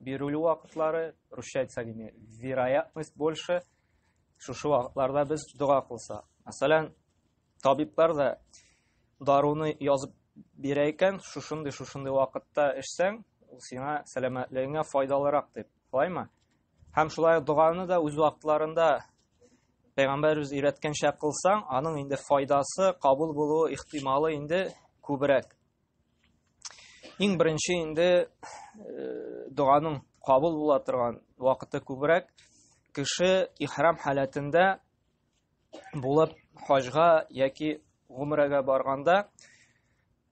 бирелү вакытлары русча әйтсәк инде вероятность больше шушы вакытларда без дога кылса мәсәлән табиблар да даруны язып бирә икән шушындый шушындый вакытта эчсәң ул сиңа сәламәтлегеңә файдалырак дип шулаймы һәм шулай доганы да үз вакытларында пәйгамбәребез өйрәткәнчә кылсаң аның инде файдасы кабул булуы ихтималы инде күбрәк Иң беренче инде э, доганың кабул була торган вакыты күбрәк кеше ихрам халәтендә булып хаҗга яки гомрәгә барганда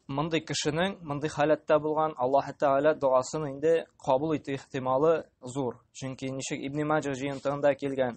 мондый кешенең мондый халәттә булган Аллаһ Тәгалә догасын инде кабул итү ихтималы зур. Чөнки ничек Ибн Маҗа җыентыгында килгән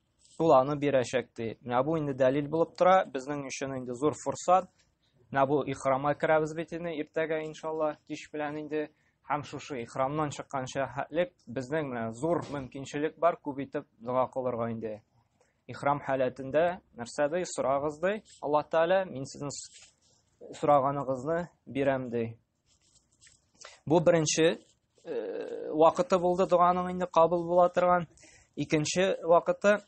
Ул аны бирәчәк ди. Менә бу инде дәлил булып тора. Безнең өчен инде зур форсат. Менә бу ихрама керәбез бит инде иртәгә иншалла, кич белән инде. Һәм шушы ихрамнан чыккан шәһәтлек безнең менә зур мөмкинчелек бар, күп итеп дога кылырга инде. Ихрам халәтендә нәрсә ди, сорагыз ди. Аллаһ Тәгалә, мин сезнең сораганыгызны бирәм ди. Бу беренче э, вакыты булды дуганың инде кабул була торган. Икенче вакыты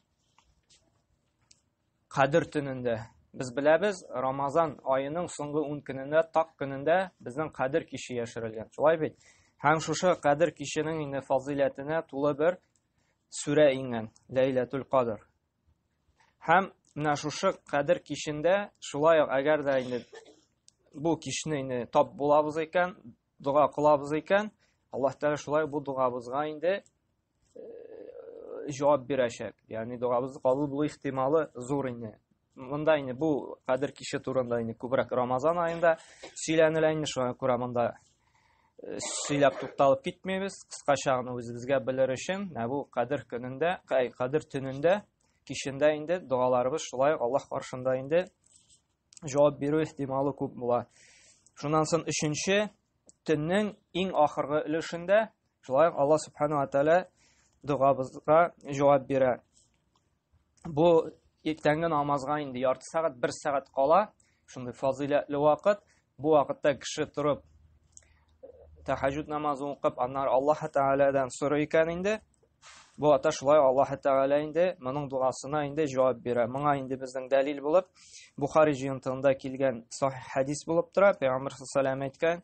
Кадер төнендә. Без беләбез, Рамазан аеның соңгы 10 көнендә, так көнендә безнең Кадер кичи яшерелгән. Шулай бит? Һәм шушы Кадер кичинең инде фазилятына тулы бер сүрә иңгән, Ләйләтул Кадр. Һәм менә шушы кадер кичендә шулай ук әгәр дә инде бу кичне инде тап булабыз икән, дога кылабыз икән, Аллаһ Тәгалә шулай бу догабызга инде җавап бирәчәк. Ягъни догабыз кабул булу ихтималы зур инде. Монда инде бу кадер киче турында инде күбрәк Рамазан аенда сөйләнелә инде, шуңа күрә монда сөйләп тукталып китмибез кыскача гына үзебезгә белер өчен ә бу кадер көнендә әй кадер төнендә кичендә инде догаларыбыз шулай аллаһ каршында инде җавап бирү ихтималы күп була шуннан соң өченче төннең иң ахыргы өлешендә Шулай ук Алла субхану ва тааля догабызга җавап бирә. Бу иртәнге намазга инде ярты сәгать, бер сәгать кала, шундый фазыйләтле вакыт. Бу вакытта кеше торып тәһәҗҗүд намазын укып, аннары Аллаһ Тәгаләдән сорый икән инде. Бу ата шулай Аллаһ Тәгалә инде моның дуасына инде җавап бирә. Моңа инде безнең дәлил булып Бухари җыентыгында килгән сахих хәдис булып тора. Пәйгамбер саллаллаху әйткән: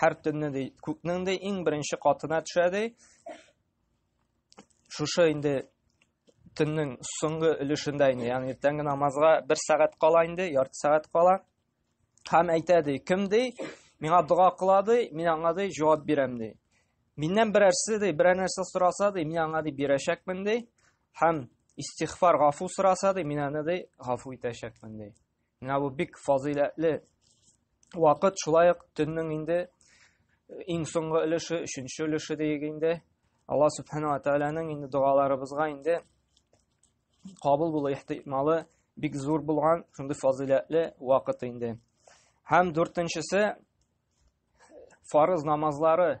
Һәр төнне ди, күкнең ди иң беренче катына төшә ди. Шушы инде төннең соңгы өлешендә инде, ягъни иртәнге намазга бер сәгать кала инде, ярты сәгать кала. Һәм әйтә ди, кем ди, миңа дога кыла ди, мин аңа ди җавап бирәм ди. Миннән берәрсе ди, берәр нәрсә сораса ди, мин аңа ди бирәчәкмен ди. Һәм истихфар гафу сораса ди, мин аны ди гафу итәчәкмен ди. Менә бу бик фазыйләтле вакыт, шулай ук төннең инде э, иң соңгы өлеше, өченче өлеше диек инде. Алла Субхану Аталаның инде догаларыбызга инде кабул булу ихтималы бик зур булган шундый фазыйләтле вакыт инде. Һәм дүртенчесе фарыз намазлары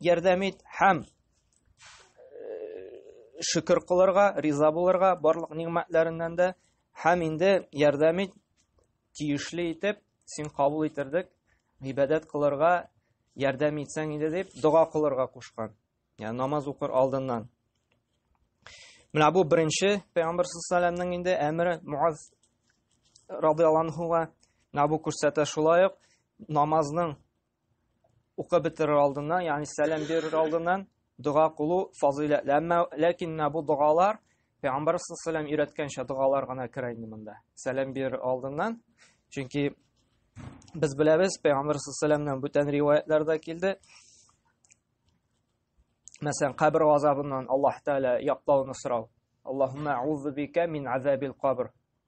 ярдәм ит һәм шөкер кылырга, риза булырга барлык нигъмәтләреннән дә һәм инде ярдәм ит тиешле итеп син кабул иттердек, гыйбадәт кылырга ярдәм итсәң иде дип дога кылырга кушкан. Ягъни намаз укыр алдыннан. Менә бу беренче Пәйгамбер саллаллаһу инде әмре Муаз радиаллаһуга. Менә бу күрсәтә шулай ук намазның Укып бетерер алдыннан, ягъни сәлам бирер алдыннан дога кылу фазыйләтле. Әмма ләкин менә бу догалар Пәйгамбәр саллаллаху өйрәткәнчә догалар гына керә инде монда. Сәлам бирер алдыннан. Чөнки без беләбез, Пәйгамбәр саллаллаху бүтән риваятларда килде. Мәсәлән, кабер газабыннан Аллаһ Тәгалә яклауны сорау. Аллаһумма аузу бика мин азабил кабр.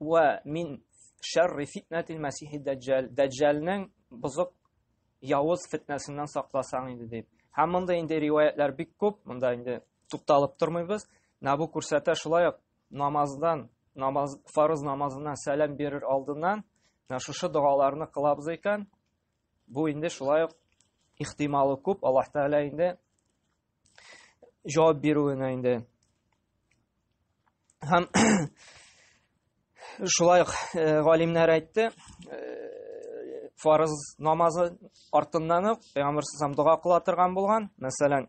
Ва мин шәрри фитнәтил мәсихи дәҗҗәл. Дәҗҗәлнең бозык явыз фитнәсеннән сакласаң иде дип. Һәм монда инде риваятлар бик күп, монда инде тукталып тормыйбыз. Менә бу күрсәтә шулай ук намаздан, намаз фарыз намазыннан сәлам бирер алдыннан менә шушы догаларны кылабыз икән. Бу инде шулай ук ихтималы күп, Аллаһ Тәгалә инде җавап бирүенә инде. Һәм шулай ук э, галимнәр әйтте, э, фарыз намазы артыннан ук пәйгамбер сәлләм дога кыла торган булган. Мәсәлән,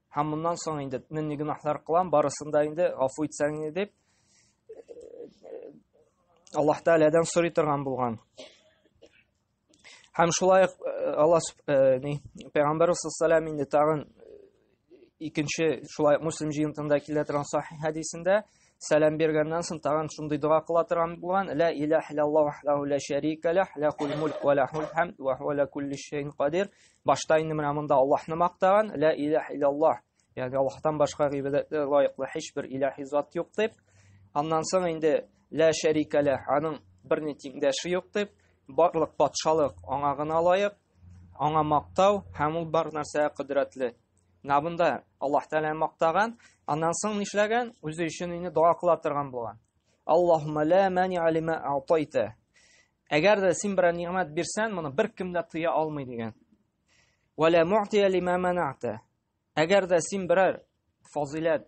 Һәм моннан соң инде мин ни гөнаһлар кылам, барысын да инде гафу итсәң инде дип Аллаһ Тәгаләдән сорый торган булган. Һәм шулай ук Алла ни Пәйгамбәр саллаллаху инде тагын икенче шулай муслим җыентында килә торган сахих хәдисендә Сәлам бергәннән соң тагын шундый дога кыла торган булган. Ла илаһ иллаллаһу ваһдаху ла шәрика ләһ, ләхул мульк ва ләхул хәмд ва хуа ла кулли шәйин кадир. Башта инде менә монда Аллаһны мактаган. Ла илаһ иллаллаһ. Ягъни Аллаһтан башка гыйбадәткә лаеклы һичбер илаһи зат юк дип. Аннан соң инде ла шәрика ләһ, аның берни тиңдәше юк дип, барлык патшалык аңа гына лаек, аңа мактау һәм ул бар нәрсәгә кодрәтле. Менә бунда Аллаһ Тәгалә мактаган, аннан соң нишләгән? Үзе өчен инде дога кыла торган булган. Аллаһумма ла мани алима атайта. Әгәр дә син берәр нигъмәт бирсәң, моны бер кем дә тыя алмый дигән. Ва ла муътия лима манагта. Әгәр дә син берәр фазилат,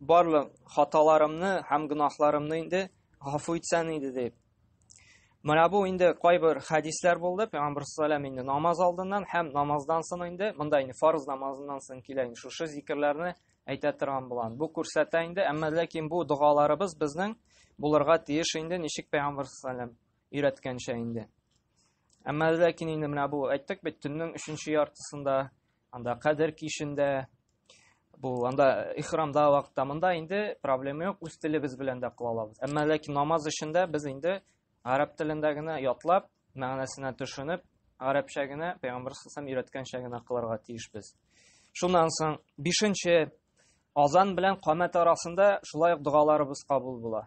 Барлык хаталарымны һәм гөнаһларымны инде гафу итсәң иде дип. Менә бу инде кайбер хәдисләр булды. Пәйгамбер саллаллаху инде намаз алдыннан һәм намаздан соң инде монда инде фарз намазыннан соң килә инде шушы зикерләрне әйтә торган булган. Бу күрсәтә инде, әмма ләкин бу догаларыбыз безнең булырга тиеш инде ничек пәйгамбер саллаллаху өйрәткәнчә инде. Әмма ләкин инде менә бу әйттек бит төннең 3 яртысында Анда кадер кишендә, бу анда ихрамда вакытта монда инде проблема юк, үз телебез белән дә кыла алабыз. Әмма ләкин намаз эшендә без инде гарәп телендә генә ятлап, мәгънәсенә төшенеп, гарәпчә генә пәйгамбәр сәлләм өйрәткәнчә генә кылырга тиешбез. Шуннан соң 5 азан белән камәт арасында шулай ук дугаларыбыз кабул була.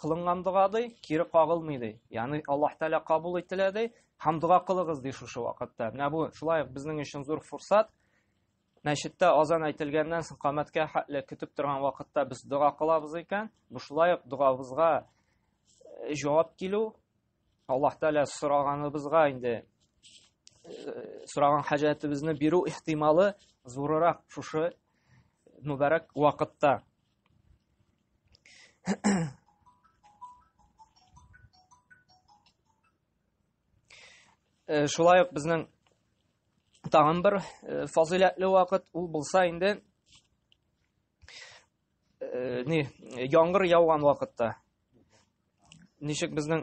кылынган дога ди, кире кагылмый ди. Ягъни Аллаһ Тәгалә кабул ителә ди, һәм дога кылыгыз ди шушы вакытта. Менә бу шулай ук безнең өчен зур фурсат. Мәчеттә азан әйтелгәннән соң камәткә хәтле көтеп торган вакытта без дога кылабыз икән. Бу шулай ук догабызга э, җавап килү. Аллаһ Тәгалә сораганыбызга инде э, сораган хаҗәтебезне бирү ихтималы зурырак шушы мөбарәк вакытта. Э, шулай ук безнең тагын бер э, фазыйләтле вакыт ул булса инде э, ни яңгыр яуган вакытта ничек безнең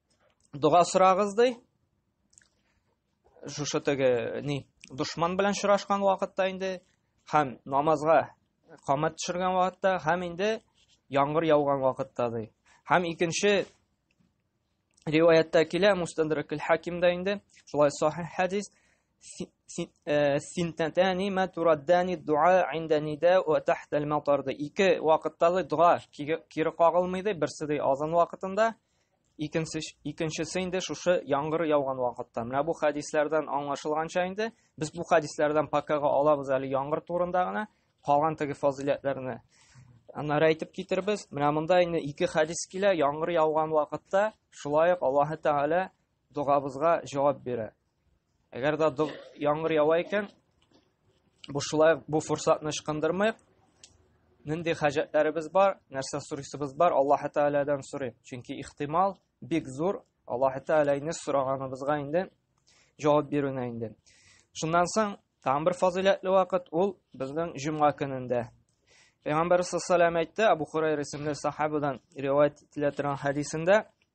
дога сорагыз ди шушы теге ни дошман белән очрашкан вакытта инде һәм намазга камат төшергән вакытта һәм инде яңгыр яуган вакытта ди һәм икенче риваятта килә мустадракл хакимда инде шулай сахих хадис синтатани ма тураддани дуа инда нида ва тахта ал-матар ике вакытта дога кире кагылмый ди берсе ди азан вакытында Икенчесе, икенчесе инде шушы яңгыр яуган вакытта. Менә бу хәдисләрдән аңлашылганча инде без бу хәдисләрдән пакага алабыз әле яңгыр турында гына, калган теге фазиләтләрне аннары әйтеп китербез. Менә монда инде ике хәдис килә, яңгыр яуган вакытта шулай ук Аллаһы Тәгалә догабызга җавап бирә. Әгәр дә яңгыр ява икән, бу шулай бу форсатны ычкындырмыйк. Нинди хаҗәтләребез бар, нәрсә сорыйсыбыз бар, Аллаһ Тәгаләдән сорыйк. Чөнки ихтимал бик зур, Аллаһ Тәгаләне сораганыбызга инде җавап бирүне инде. Шуннан соң тагын бер фазыйләтле вакыт ул безнең җомга көнендә. Пәйгамбәр саллаллаху әйтте, Абу Хурайра исемле сахабадан риваять ителә торган хәдисендә,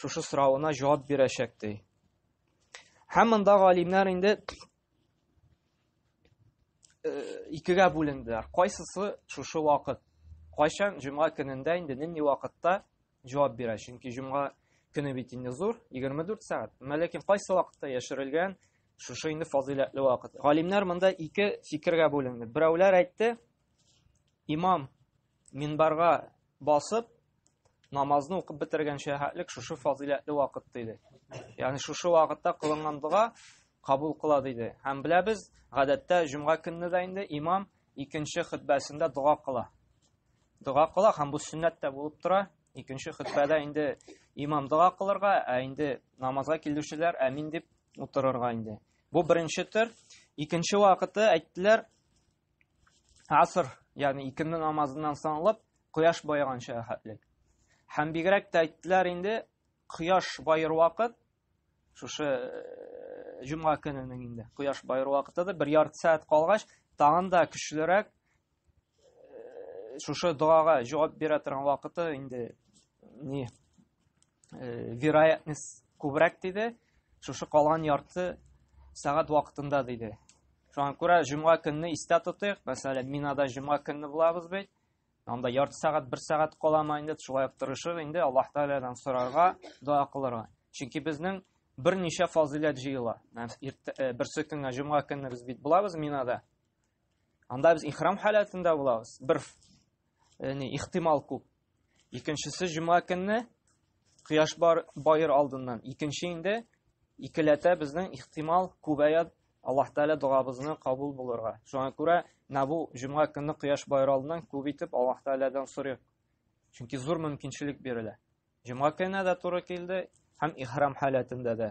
шушы соравына җавап бирәчәк ди. Һәм монда галимнәр инде э, икегә бүленделәр. Кайсысы шушы вакыт? Кайчан җомга көнендә инде нинди вакытта җавап бирә? Чөнки җомга көне бит инде зур, 24 сәгать. Менә ләкин кайсы вакытта яшерелгән шушы инде фазыйләтле вакыт. Галимнәр монда ике фикергә бүленде. Берәүләр әйтте, имам минбарга Басып, намазны укып бетергәнчә хәтлек шушы фазыйләтле вакыт диде. Ягъни шушы вакытта кылынган дога кабул кыла диде. Һәм беләбез, гадәттә җомга көнне дә инде имам икенче хөтбәсендә дога кыла. Дога кыла һәм бу сөннәт тә булып тора. Икенче хөтбәдә инде имам дога кылырга, ә инде намазга килүчеләр әмин дип утырырга инде. Бу беренче төр. Икенче вакыты әйттеләр, аср, ягъни икенде намазыннан соң алып, кояш баеганча хәтлек. Һәм бигрәк тә әйттеләр инде, кояш баер вакыт, шушы э, җомга көненең инде, кояш баер вакытыдыр, бер ярты сәгать калгач, тагын да көчлерәк э, шушы догага җавап бирә торган вакыты инде не э, вероятность күбрәк диде шушы калган ярты сәгать вакытында диде шуңа күрә җомга көнне истә тотыйк мәсәлән минада җомга көнне булабыз бит анда ярты сәгать бер сәгать каламы инде шулай ук тырышыр инде аллаһ тәгаләдән сорарга дога кылырга чөнки безнең берничә фазыйләт җыела э, берсе көнгә җомга көнне без бит булабыз минада анда без ихрам халәтендә булабыз бер э, не ихтимал күп Икенчесе җомга көнне кояш бар байыр алдыннан. Икенче инде икеләтә безнең ихтимал күбәя Аллаһ Тәгалә догабызны кабул булырга. Шуңа күрә набу җомга көнне кояш байыр алдыннан күп итеп Аллаһ Тәгаләдән сорыйк. Чөнки зур мөмкинчелек бирелә. Җомга көнне дә туры килде һәм ихрам халәтендә дә.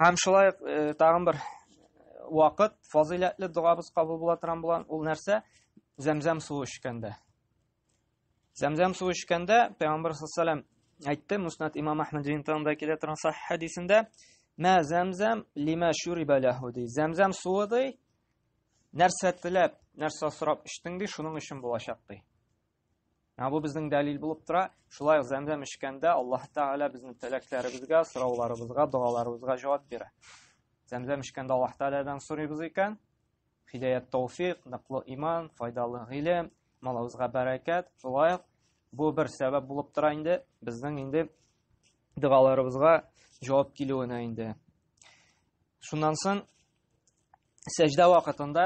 Һәм шулай ук э, тагын бер вакыт фазыйләтле догабыз кабул була торган булган ул нәрсә? Зәмзәм суы эчкәндә. Зәмзәм суы эчкәндә Пәйгамбер саллаллаху әйтте, Муснат Имам Ахмад ринтанда килә торган сахих хадисендә, "Мә зәмзәм лима шуриба лаху" ди. Зәмзәм суы ди, нәрсә теләп, нәрсә сорап эчтең ди, шуның өчен булачак ди. Ә бу безнең дәлил булып тора. Шулай ук зәмзәм эчкәндә Аллаһ Тәгалә безнең теләкләребезгә, сорауларыбызга, догаларыбызга җавап бирә. Зәмзәм эчкәндә Аллаһ Тәгаләдән сорыйбыз икән, хидәят тауфик, ныклы иман, файдалы гыйлем, малыбызга бәрәкәт. Шулай ук бу бер сәбәп булып тора инде безнең инде догаларыбызга җавап килүенә инде. Шуннан соң сәҗдә вакытында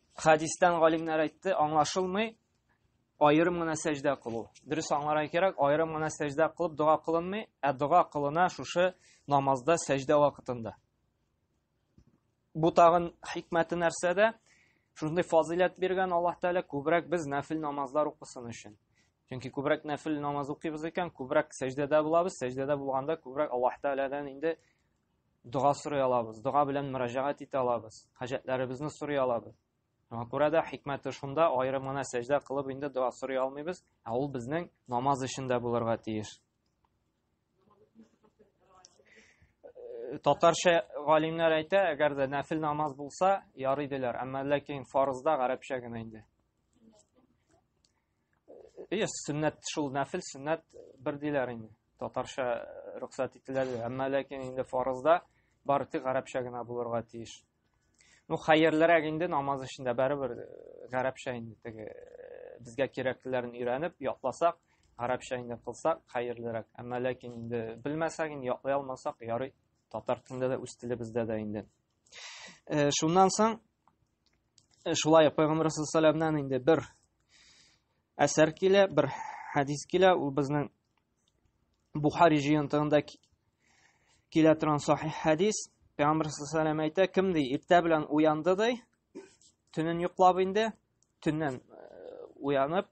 Хадистан галимнәр әйтте, аңлашылмый, айырым гына сәҗдә кылу. Дөрес аңларга кирәк, айырым гына сәҗдә кылып дога кылынмый, ә дога кылына шушы намазда сәҗдә вакытында. Бу тагын хикмәте нәрсәдә? Шундый фазилят биргән Аллаһ Тәгалә күбрәк без нәфил намазлар укысын өчен. Чөнки күбрәк нәфил намаз укыйбыз икән, күбрәк сәҗдәдә булабыз, сәҗдәдә булганда күбрәк Аллаһ Тәгаләдән инде дога сорый алабыз, дога белән мөрәҗәгать итә алабыз, хаҗәтләребезне сорый алабыз. Шуңа күрә дә хикмәте шунда, аерым гына сәҗдә кылып инде дога сорый алмыйбыз, ә ул безнең намаз эшендә булырга тиеш. Э, татарча галимнәр әйтә, әгәр дә нәфил намаз булса, ярый диләр, әмма ләкин фарызда гарәпчә генә инде. Ие, сөннәт шул нәфил сөннәт бер диләр инде. Татарча э, рөхсәт ителә диләр. Әмма ләкин инде фарызда бары тик гарәпчә генә булырга тиеш. Ну, хәерлерәк инде намаз эчендә барыбер э, гарәпчә инде теге э, безгә кирәклеләрен өйрәнеп ятласак, гарәпчә инде кылсак хәерлерәк. Әмма ләкин инде белмәсәк, инде ятлый алмасак, ярый татар телендә дә үз телебездә дә инде. Шуннан соң Э, шулай пәйгамбәр саллаллаху инде бер әсәр килә бер хәдис килә ул безнең бухари җыентыгында килә торган сахи хәдис пәйгамбәр саллаллаху әйтә кем ди иртә белән уянды ди төнен йоклап инде төннән э, уянып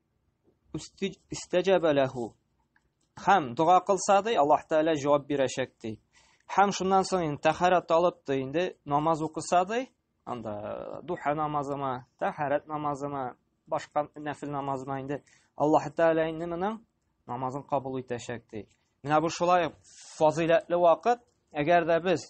Истәҗәбә ләһу. Хәм дога кылса ди, Аллаһ Тәгалә җавап бирәчәк ди. Хәм шуннан соң инде тәһарәт алып ди, инде намаз укыса ди, анда э, духа намазыма, тәһарәт намазыма, башка нәфил намазыма инде Аллаһ Тәгалә инде моның намазын кабул итәчәк ди. Менә бу шулай фазыйләтле вакыт, әгәр дә без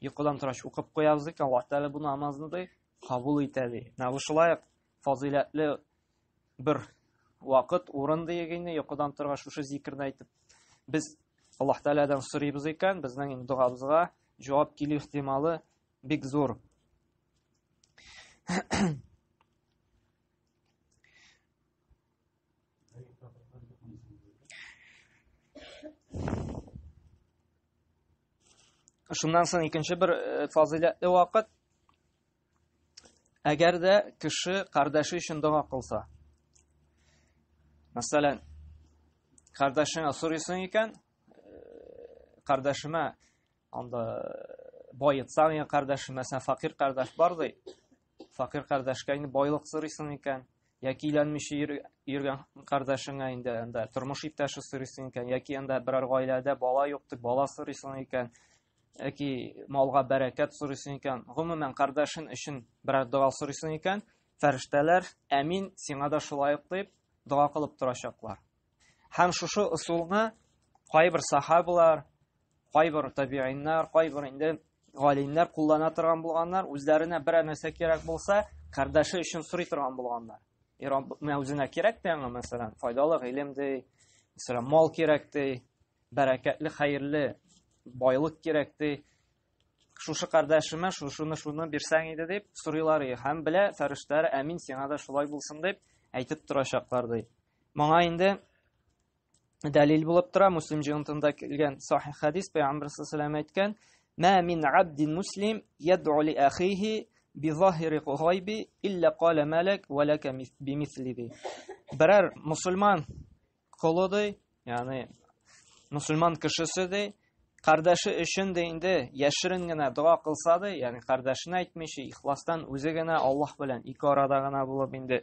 Йокыдан торач укып куябыз икән, Аллаһ Тәгалә бу намазны ди, кабул итә ди. Менә бу шулай фазыйләтле бер вакыт, урын диек инде, йокыдан торгач шушы зикерне әйтеп, без Аллаһ Тәгаләдән сорыйбыз икән, безнең инде догабызга җавап килү ихтималы бик зур. Шуннан соң икенче бер э, фазыйләтле вакыт әгәр дә кеше кардәше өчен дога кылса. Мәсәлән, кардәшеңә сорыйсың икән, кардәшемә э, анда э, боецаң икән кардәшемә, сән факир кардәш бар ди. Факир кардәшкә инде байлык сорыйсың икән, яки өйләнмичә йөргән кардәшеңә инде анда тормыш иптәше сорыйсың икән, яки анда берәр гаиләдә бала юк дип бала сорыйсың икән, яки малга бәрәкәт сорыйсың икән, гомумән кардәшең өчен берәр дога сорыйсың икән, фәрештәләр, әмин, сиңа да шулай ук дип дога кылып торачаклар. Һәм шушы ысулны кайбер сахабалар, кайбер табииннар, кайбер инде галимнәр куллана торган булганнар, үзләренә берәр нәрсә кирәк булса, кардәше өчен сорый торган булганнар. И Рабб, мен үзенә кирәк тә аңа, мәсәлән, файдалы гыйлем ди, мәсәлән, мал кирәк ди, бәрәкәтле, хәерле байлык кирәк ди. Шушы кардәшемә шушыны шуны бирсәң иде дип сорыйлар и һәм белә фәрештәләр, әмин, сиңа да шулай булсын дип әйтеп торачаклар ди. Моңа инде дәлил булып тора Муслим җыентында килгән сахих хадис Пәйгамбәр саллаллаху әйткән: "Ма мин абдин муслим яд'у ли ахихи би захири гайби илля кала малак ва лака би мислиби". Берәр мусульман колы ди, ягъни мусульман кешесе ди, кардәше өчен дә инде яшерен генә дога кылса ди, ягъни кардәшенә әйтмичә, ихластан үзе генә Аллаһ белән ике арада гына булып инде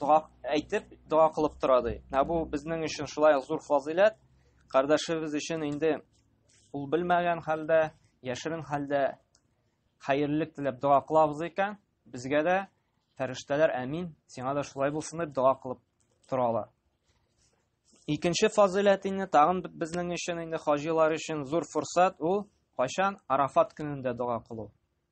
дога әйтеп, дога кылып тора ди. Ә бу безнең өчен шулай зур фазыйләт. Кардәшебез өчен инде ул белмәгән хәлдә, яшерен хәлдә хәерлек теләп дога кылабыз икән, безгә дә фәрештәләр әмин, сиңа да шулай булсын дип дога кылып торалар. Икенче фазыйләт инде тагын безнең өчен инде хаҗилар өчен зур форсат ул кайчан Арафат көнендә дога кылу.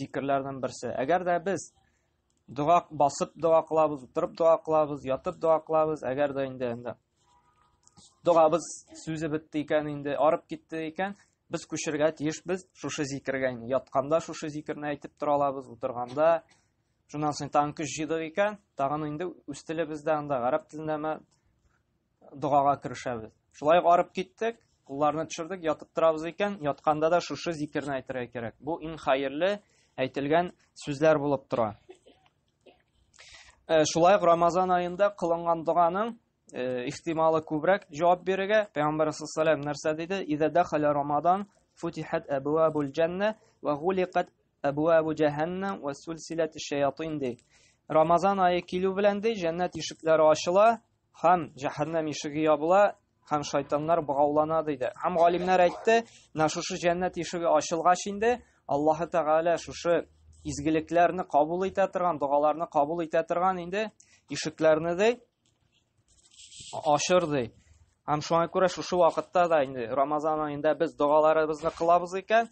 зикерләрнең берсе. Әгәр дә без дога басып дога кылабыз, утырып дога кылабыз, ятып дога кылабыз, әгәр дә инде инде догабыз сүзе бетте икән инде, арып китте икән, без күчергә тиешбез шушы зикергә инде. Ятканда шушы зикерне әйтеп тора алабыз, утырганда шуннан соң тагын көч җыйдык икән, тагын инде үз телебездә анда гарәп телендәме догага керешәбез. Шулай ук арып киттек, кулларны төшердек, ятып торабыз икән, ятканда да шушы зикерне әйтергә кирәк. Бу иң хәерле әйтелгән сүзләр булып тора. Э, шулай ук Рамазан аенда кылынган доганың э, ихтималы күбрәк җавап бирергә. Пәйгамбәр саллаллаху нәрсә диде? Иза дахала Рамазан футихат абуабул җанна ва гуликат абуабу җаһаннам ва сулсилат шаятин ди. Рамазан ае килү белән ди, җәннәт ишекләре ачыла, Һәм җәһәннәм ишеге ябыла, һәм шайтаннар богаулана диде. Һәм галимнәр әйтте, менә шушы җәннәт ишеге ачылгач инде, Аллаһы Тәгалә шушы изгелекләрне кабул итә торган, догаларны кабул итә торган инде ишекләрне дә ашыр ди. Һәм шуңа күрә шушы вакытта да инде Рамазан аенда без догаларыбызны кылабыз икән,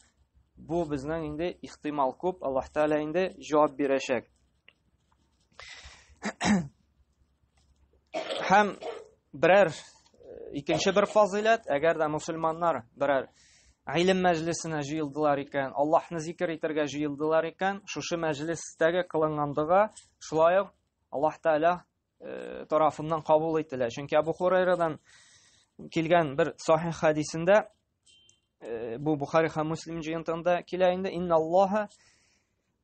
бу безнең инде ихтимал күп, Аллаһ Тәгалә инде җавап бирәчәк. Һәм берәр э, икенче бер фазыйләт, әгәр дә мусульманнар берәр гыйлем мәҗлесенә җыелдылар икән, Аллаһны зикер итәргә җыелдылар икән, шушы мәҗлестәге кылынгандыга шулай ук Аллаһ Тәгалә э, тарафыннан кабул ителә. Чөнки Абу Хурайрадан килгән бер сахих хадисендә э, бу Бухари һәм Муслим җыентында килә инде, инналлаһа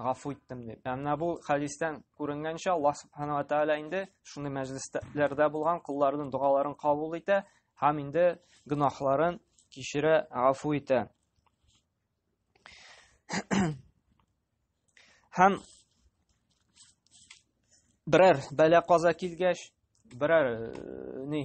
гафу иттем дип. Ә менә бу хәдистән күренгәнчә Аллаһ субханала тәгалә инде шундый мәҗлесләрдә булган кулларының догаларын кабул итә һәм инде гөнаһларын кичерә, гафу итә. Һәм берәр бәла каза килгәч, берәр э, ни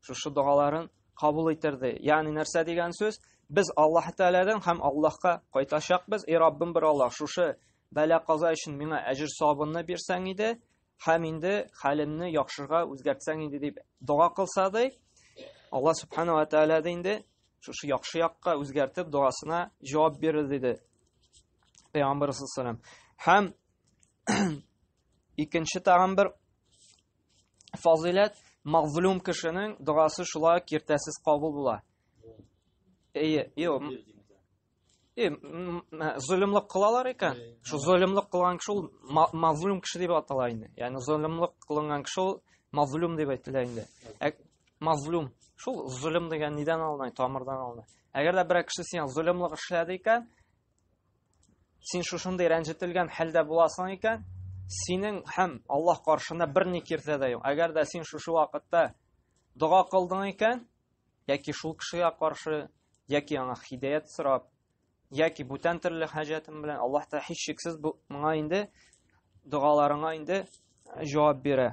Шушы догаларын кабул иттерде. Ягъни нәрсә дигән сүз? Без Аллаһ Тәгаләдән һәм Аллаһка кайтачакбыз. И Раббым бер Аллаһ, шушы бәла каза өчен миңа әҗер савабымны бирсәң иде, һәм инде хәлемне яхшыга үзгәртсәң иде дип дога кылса ди. Аллаһ Субхану ва Тәгалә дә инде шушы яхшы якка үзгәртеп догасына җавап бирер диде. Пәйгамбер саллаллаху алейһи һәм икенче тагын бер фазыйләт мазлум кешенең догасы шулай киртәсез кабул була. Әйе, юк. Э, э, золымлык кылалар икән. Шу золымлык кылган кеше ул мазлум кеше дип атала инде. Ягъни золымлык кылган кеше ул мазлум дип әйтелә инде. Ә мазлум шул золым дигән нидән алына, тамырдан алына. Әгәр дә берәр кеше сиңа золымлык эшләде икән, Син шушындый рәнҗетелгән хәлдә буласың икән, синең һәм Аллаһ каршында бер ни киртә дә юк. Әгәр дә син шушы вакытта дога кылдың икән, яки шул кешегә каршы, яки аңа хидәят сорап, яки бүтән төрле хаҗәтең белән, Аллаһ та һичшиксез моңа инде догаларыңа инде җавап бирә.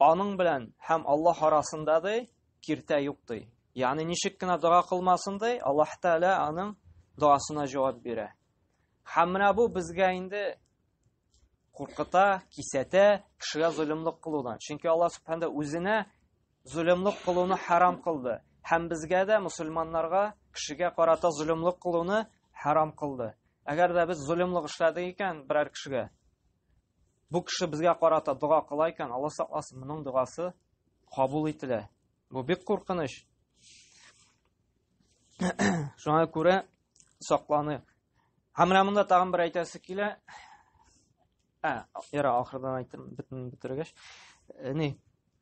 Аның белән һәм Аллаһ арасында ди киртә юк ди. Ягъни ничек кенә дога кылмасын ди, Аллаһ Тәгалә аның догасына җавап бирә. Һәм менә бу безгә инде куркыта, кисәтә кешегә золымлык кылудан. Чөнки Алла Субханда үзенә золымлык кылуны харам кылды. Һәм безгә дә мусульманнарга кешегә карата золымлык кылуны харам кылды. Әгәр дә без золымлык эшләдек икән берәр кешегә, Бу кеше безгә карата дога кыла икән, Алла сакласын, моның догасы кабул ителә. Бу бик куркыныч. Шуңа күрә сакланыйк. Һәм менә монда тагын бер әйтәсе килә. Ә, яра ахырдан әйтәм, бетен бетергәч. Э, ни?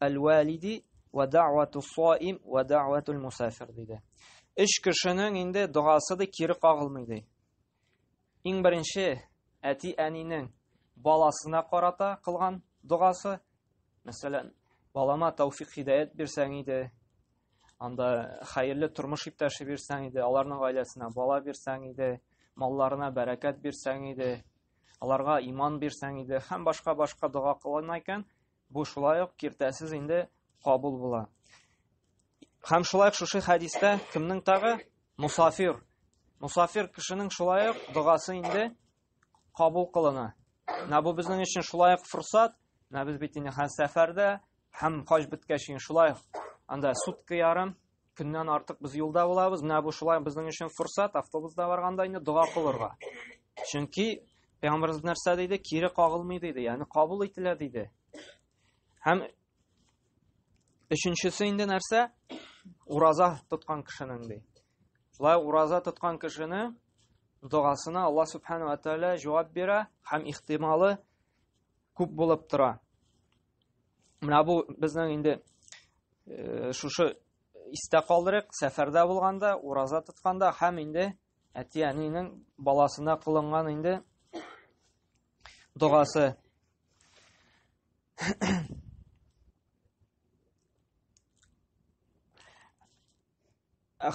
Әл-валиди ва даъвату саим ва даъватул мусафир диде. Өч кешенең инде догасы да кире кагылмый ди. Иң беренче әти әнинең баласына карата кылган догасы, мәсәлән, балама тауфик хидәят бирсәң иде, анда хәерле тормыш иптәше бирсәң иде, аларның гаиләсенә бала бирсәң иде, малларына бәрәкәт бирсәң иде, аларга иман бирсәң иде, һәм башка-башка дога кылына икән, Бу шулай ук киртәсез инде кабул була. Һәм шулай шушы хәдистә кемнең тагы? Мусафир. Мусафир кешенең шулай ук догасы инде кабул кылына. Менә бу безнең өчен шулай ук фурсат. Менә без бит инде һәм сәфәрдә, һәм хаҗ беткәч инде шулай анда сутка ярым Көннән артык без юлда булабыз. Менә бу шулай безнең өчен форсат, автобуста барганда инде дога кылырга. Чөнки Пәйгамбәрбез нәрсә диде? Кире кагылмый диде, ягъни кабул ителә диде. Һәм өченчесе инде нәрсә? Ураза тоткан кешенең ди. Шулай ураза тоткан кешене догасына Алла субхана ва тааля җавап бирә һәм ихтималы күп булып тора. Менә бу безнең инде э, шушы истә калдырык, сәфәрдә булганда, ураза тотканда һәм инде әти-әнинең баласына кылынган инде догасы.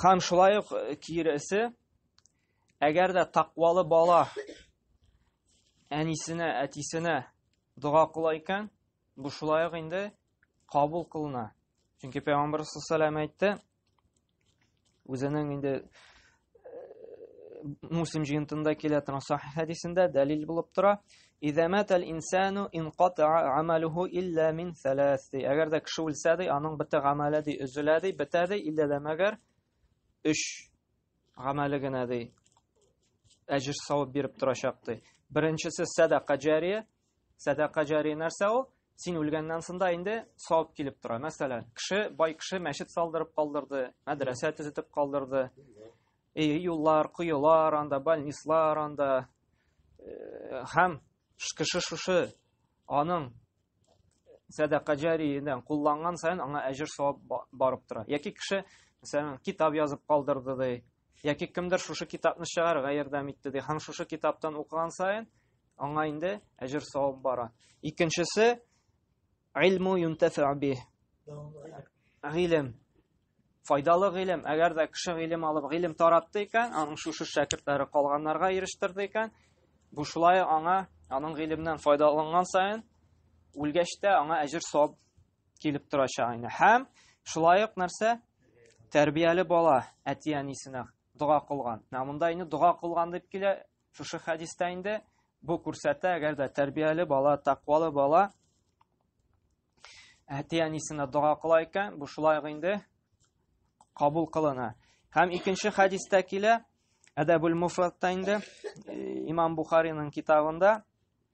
Һәм шулай ук киресе, әгәр дә тақвалы бала әнисенә, әтисенә дога кыла икән, бу шулай ук инде кабул кылына. Чөнки Пәйгамбәр саллаллаху әйтте, үзенең инде Муслим җыентында килә торган сахих хәдисендә дәлил булып тора. Иза матал инсану инката амалуху илля мин саласи. Әгәр дә кеше үлсә ди, аның бөтен гамәле ди өзелә ди, бетә ди, илля дә мәгәр өч гамәле генә ди. Әҗер савып биреп торачак ди. Беренчесе садака җария, Сәдака җари нәрсә ул? Син үлгәннән соң да инде савап килеп тора. Мәсәлән, кеше, бай кеше мәчет салдырып калдырды, мәдрәсә төзетеп калдырды. И, юллар, коелар, анда больницалар, анда э, һәм кеше шушы аның сәдака җариеннән кулланган саен аңа әҗер савап барып тора. Яки кеше, мәсәлән, китап язып калдырды ди, Яки кемдер шушы китапны чыгарырга ярдәм итте ди. Һәм шушы китаптан укыган саен аңа инде әҗер савап бара. Икенчесе илму юнтәфи би. Гыйлем. Файдалы гыйлем. Әгәр дә кеше гыйлем алып, гыйлем таратты икән, аның шушы шәкертләре калганнарга ирештерде икән, бу шулай аңа, аның гыйлемнән файдаланган саен, үлгәч тә аңа әҗер савап килеп торачак инде. Һәм шулай ук нәрсә? Тәрбияле бала әти-әнисенә дога кылган. Менә монда инде дога кылган дип килә. Шушы хәдистә инде бу күрсәтә, әгәр дә тәрбияле бала, тәкъвалы бала әти-әнисенә дога кыла икән, бу шулай ук инде кабул кылына. Һәм икенче хәдистә килә, Әдәбул Муфратта инде имам Бухариның китабында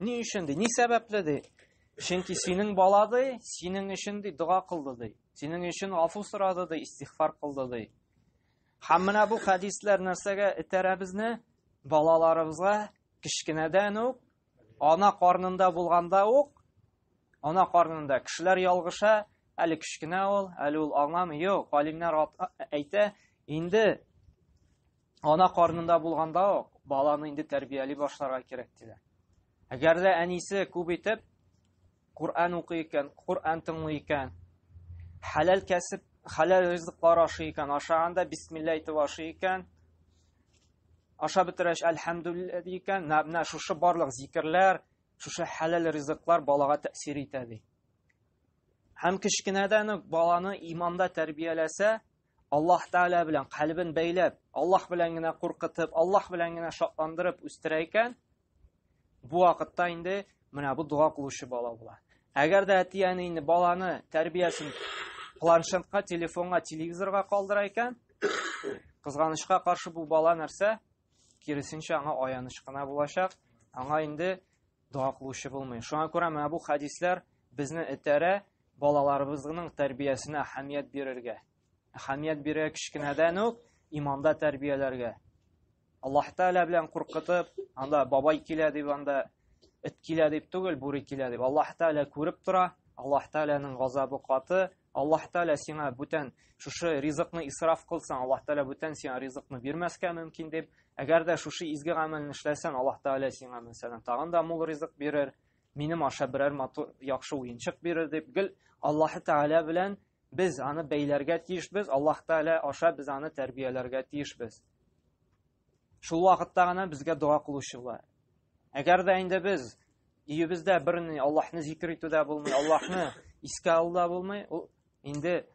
Ни өчен ди? Ни сәбәпле ди? Чөнки синең бала ди, синең өчен ди дога кылды ди. Синең өчен афу сорады ди, истигъфар кылды ди. Һәм менә бу хәдисләр нәрсәгә этәрә безне? Балаларыбызга кечкенәдән үк ана карнында булганда ук ана карнында кешеләр ялгыша, әле кечкенә ул, әле ул аңламый. Юк, галимнәр әйтә, инде Ана карнында булганда ук баланы инде тәрбияли башларга кирәк диләр. Әгәр дә әнисе күп итеп Коръән укый икән, Коръән тыңлый икән, хәләл кәсеп, хәләл ризыклар ашый икән, ашаганда бисмилла әйтеп ашый икән, аша бетерәч әлхәмдүлиллә ди икән, менә шушы барлык зикерләр, шушы хәләл ризыклар балага тәэсир итә ди. Һәм кечкенәдән үк баланы иманда тәрбияләсә, Аллаһ Тәгалә белән калбын бәйләп, Аллаһ белән генә куркытып, Аллаһ белән генә шатландырып үстерә икән, бу вакытта инде менә бу дога кылучы бала була. Әгәр дә әти-әни инде баланы тәрбиясен планшетка, телефонга, телевизорга калдыра икән, кызганычка каршы бу бала нәрсә? Киресенчә аңа аяныч кына булачак. Аңа инде Дога кылучы булмый. Шуңа күрә менә бу хәдисләр безне этәрә балаларыбызның тәрбиясенә әһәмият бирергә. Әһәмият бирә кечкенәдән үк иманда тәрбияләргә. Аллаһ Тәгалә белән куркытып, анда бабай килә дип анда эт килә дип түгел, бүре килә дип. Аллаһ Тәгалә күреп тора. Аллаһ Тәгаләнең газабы каты, Аллаһ Тәгалә сиңа бүтән шушы ризыкны исраф кылсаң, Аллаһ Тәгалә бүтән сиңа ризыкны бирмәскә мөмкин дип, әгәр дә шушы изге гамәлне эшләсәң, Аллаһ Тәгалә сиңа мәсәлән тагын да мул ризык бирер, минем аша берәр матур яхшы уенчык бирер дип, гел Аллаһ Тәгалә белән без аны бәйләргә тиешбез, Аллаһ Тәгалә аша без аны тәрбияләргә тиешбез. Шул вакытта гына безгә дога кылучы була. Әгәр дә инде без өебездә берни Аллаһны зикр итүдә булмый, Аллаһны искә алуда булмый, ул инде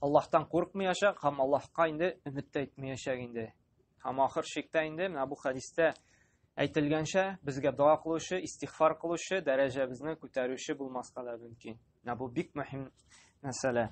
Аллаһтан куркмыячак һәм Аллаһка инде өмет тә итмәячәк инде. Һәм ахыр шиктә инде менә бу хадистә әйтелгәнчә безгә дога кылучы, истигъфар кылучы, дәрәҗәбезне күтәрүче булмаска да мөмкин. Менә бу бик мөһим мәсьәлә.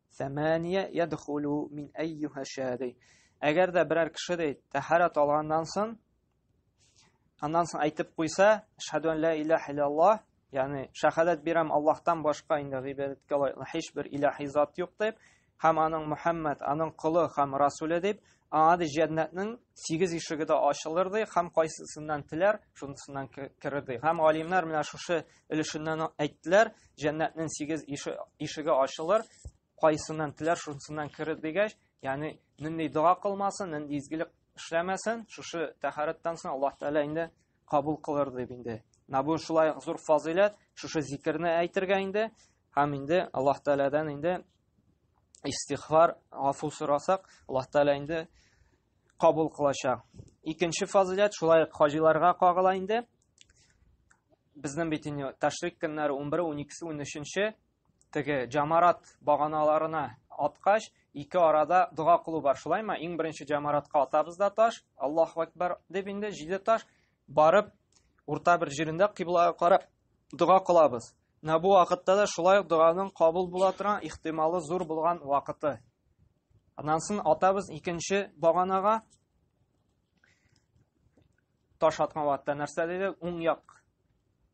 Сәмәния ядхулу мин әйюха шәди. Әгәр дә берәр кеше дә тәһарат алганнан соң, аннан соң әйтеп куйса, шәһәду ан ла илаһа иллаллаһ, ягъни шәһадәт бирәм Аллаһтан башка инде гыйбадәткә лаеклы һичбер илаһи зат юк дип, һәм аның Мухаммад, аның колы һәм расуле дип, аңа да җәннәтнең сигез ишеге дә ачылыр ди, һәм кайсысыннан теләр, шунысыннан керер ди. Һәм галимнәр менә шушы өлешеннән әйттеләр, җәннәтнең сигез ишеге ачылыр, кайсыннан теләр шунсыннан керер дигәч, ягъни нинди дога кылмасын, нинди изгелек эшләмәсен, шушы тәһарәттән соң Аллаһ Тәгалә инде кабул кылыр дип инде. Менә бу шулай зур фазыйләт, шушы зикерне әйтергә инде һәм инде Аллаһ Тәгаләдән инде истихфар, гафу сорасак, Аллаһ Тәгалә инде кабул кылачак. Икенче фазилят шулай ук хаҗиларга кагыла инде. Безнең бит инде ташрик көннәре 11, 12, 13 теге җамарат баганаларына аткач, ике арада дога кылу бар. Шулаймы? Иң беренче җамаратка атабыз да таш, Аллаһу акбар дип инде 7 таш барып урта бер җирендә кыйблага карап Дога кылабыз. Менә бу вакытта да шулай ук доганың кабул була торган ихтималы зур булган вакыты. Аннан соң атабыз икенче баганага таш аткан вакытта нәрсә диде? Уң як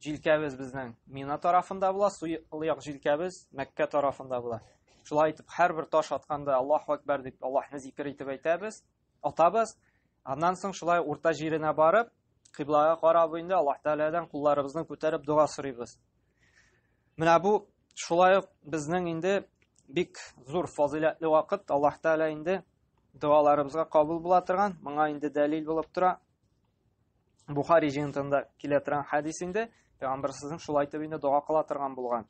җилкәбез безнең Мина тарафында була, сул як җилкәбез Мәккә тарафында була. Шулай итеп, һәрбер таш атканда Аллаһу акбар дип Аллаһны зикер итеп әйтәбез. атабыз. Аннан соң шулай урта җиренә барып, кыйблага карап инде Аллаһ Тәгаләдән кулларыбызны күтәреп дога сорыйбыз. Менә бу шулай ук безнең инде бик зур фазыйләтле вакыт Аллаһ Тәгалә инде догаларыбызга кабул була торган, моңа инде дәлил булып тора. Бухари җыентында килә торган хадис инде пәйгамбәр сезнең шулай итеп инде дога кыла торган булган.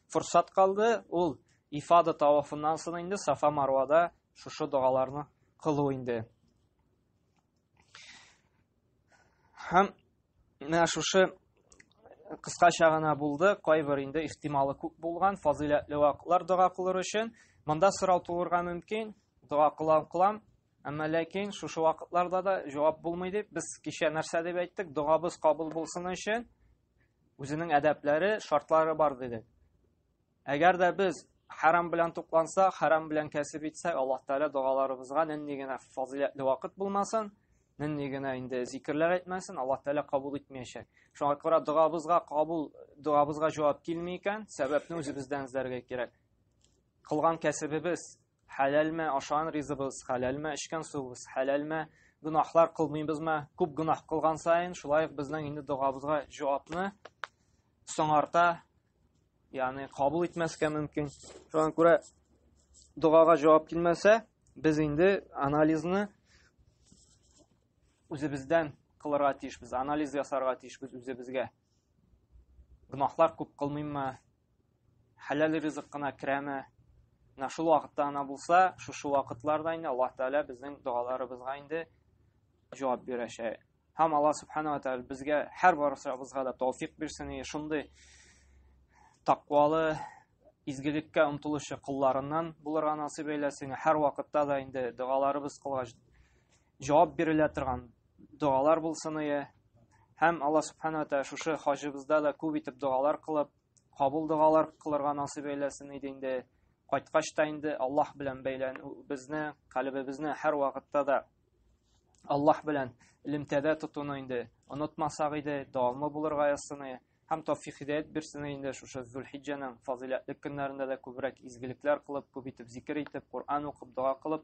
форсат калды, ул ифада тавафыннан соң инде Сафа Марвада шушы догаларны кылу инде. Һәм менә шушы кыскача гына булды, кайбер инде ихтималы күп булган фазыйләтле вакытлар дога кылыр өчен. Монда сорау тулырга мөмкин, дога кылам кылам, әмма ләкин шушы вакытларда да җавап булмый дип, без кичә нәрсә дип әйттек, догабыз кабул булсын өчен Үзенең әдәпләре, шартлары бар дидек. Әгәр дә без харам белән тукланса, харам белән кәсеп итсә, Аллаһ Тәгалә догаларыбызга нинди генә фазиләтле вакыт булмасын, нинди генә инде зикерләр әйтмәсен, Аллаһ Тәгалә кабул итмәячәк. Шуңа күрә догабызга кабул, догабызга җавап килми икән, сәбәпне үзебездән эзләргә кирәк. Кылган кәсебебез Хәләлме ашаган ризыгыбыз, хәләлме эчкән суыбыз, хәләлме гөнаһлар кылмыйбызмы? Күп гөнаһ кылган саен, шулай ук безнең инде догабызга җавапны соңарта, ягъни кабул итмәскә мөмкин. Шуңа күрә догага җавап килмәсә, без инде анализны үзебездән кылырга тиешбез, анализ ясарга тиешбез үзебезгә. Гөнаһлар күп кылмыйммы, хәләл ризык кына керәме менә шул вакытта гына булса шушы вакытларда инде аллаһ тәгалә безнең догаларыбызга инде җавап бирәчәк һәм алла субханала тәгалә безгә һәр барысыбызга да тауфик бирсен и шундый тақвалы изгелеккә омтылучы кулларыннан булырга насыйп әйләсен һәр вакытта да инде догаларыбыз кылгач җавап бирелә торган догалар булсын ие һәм алла субхана тәала шушы хаҗыбызда да күп итеп догалар кылып кабул догалар кылырга насыйп әйләсен иде инде кайткач та инде аллаһ белән бәйләнү безне калебебезне һәр вакытта да аллаһ белән элемтәдә тотуны инде онытмасак иде дәвамлы булырга язсын ие һәм тәүфик хидәят бирсен инде шушы Зулхиҗҗәнең фазыйләтле көннәрендә дә күбрәк изгелекләр кылып, күп итеп зикер итеп, Коръән укып, дога кылып,